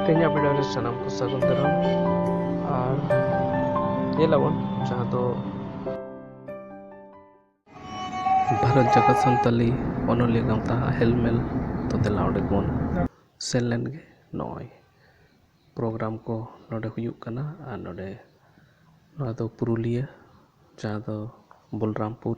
ᱛᱮᱦᱮᱧᱟᱜ ᱵᱷᱤᱰᱤᱭᱳ ᱨᱮ ᱥᱟᱱᱟᱢ ᱠᱚ ᱥᱟᱹᱜᱩᱱ ᱫᱟᱨᱟᱢ ᱟᱨ ᱧᱮᱞᱟᱵᱚᱱ ᱡᱟᱦᱟᱸ ᱫᱚ ᱵᱷᱟᱨᱚᱛ ᱡᱟᱠᱟᱛ ᱥᱟᱱᱛᱟᱞᱤ ᱚᱱᱚᱞᱤᱭᱟᱹ ᱜᱟᱶᱛᱟ ᱦᱮᱞᱢᱮᱞ ᱛᱚ ᱫᱮᱞᱟ ᱚᱸᱰᱮ ᱵᱚᱱ ᱥᱮᱱ ᱞᱮᱱ ᱜᱮ ᱱᱚᱜᱼᱚᱭ ᱯᱨᱳᱜᱨᱟᱢ ᱠᱚ ᱱᱚᱰᱮ ᱦᱩᱭᱩᱜ ᱠᱟᱱᱟ ᱟᱨ ᱱᱚᱰᱮ ᱱᱚᱣᱟ ᱫᱚ ᱯᱩᱨᱩᱞᱤᱭᱟᱹ ᱡᱟᱦᱟᱸ ᱫᱚ ᱵᱚᱞᱨᱟᱢᱯᱩᱨ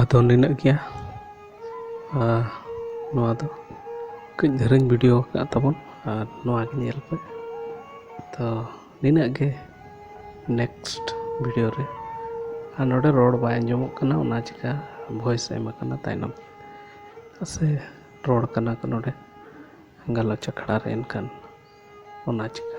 ᱟᱫᱚ ᱱᱤᱱᱟᱹᱜ ᱜᱮᱭᱟ ᱟᱨ ᱱᱚᱣᱟ ᱫᱚ ᱠᱟᱹᱡ ᱫᱷᱟᱨᱟᱧ ᱵᱷᱤᱰᱤᱭᱳ ᱟᱠᱟᱫ ᱛᱟᱵᱚᱱ ᱟᱨ ᱱᱚᱣᱟ ᱜᱮ ᱧᱮᱞ ᱯᱮ ᱛᱚ ᱱᱤᱱᱟᱹᱜ ᱜᱮ ᱱᱮᱠᱥᱴ ᱵᱷᱤᱰᱤᱭᱳ ᱨᱮ ᱟᱨ ᱱᱚᱰᱮ ᱨᱚᱲ ᱵᱟᱭ ᱟᱸᱡᱚᱢᱚᱜ ᱠᱟᱱᱟ ᱚᱱᱟ ᱪᱤᱠᱟᱹ ᱵᱷᱚᱭᱮᱥ ᱮᱢ ᱠᱟᱱᱟ ᱛᱟᱭᱱᱚᱢ ᱥᱮ ᱨᱚᱲ ᱠᱟᱱᱟ ᱠᱚ ᱱᱚᱰᱮ ᱜᱟᱞᱚᱪ ᱟᱠᱷᱲᱟ ᱨᱮ ᱮᱱᱠᱷᱟᱱ ᱚᱱᱟ ᱪᱤᱠᱟᱹ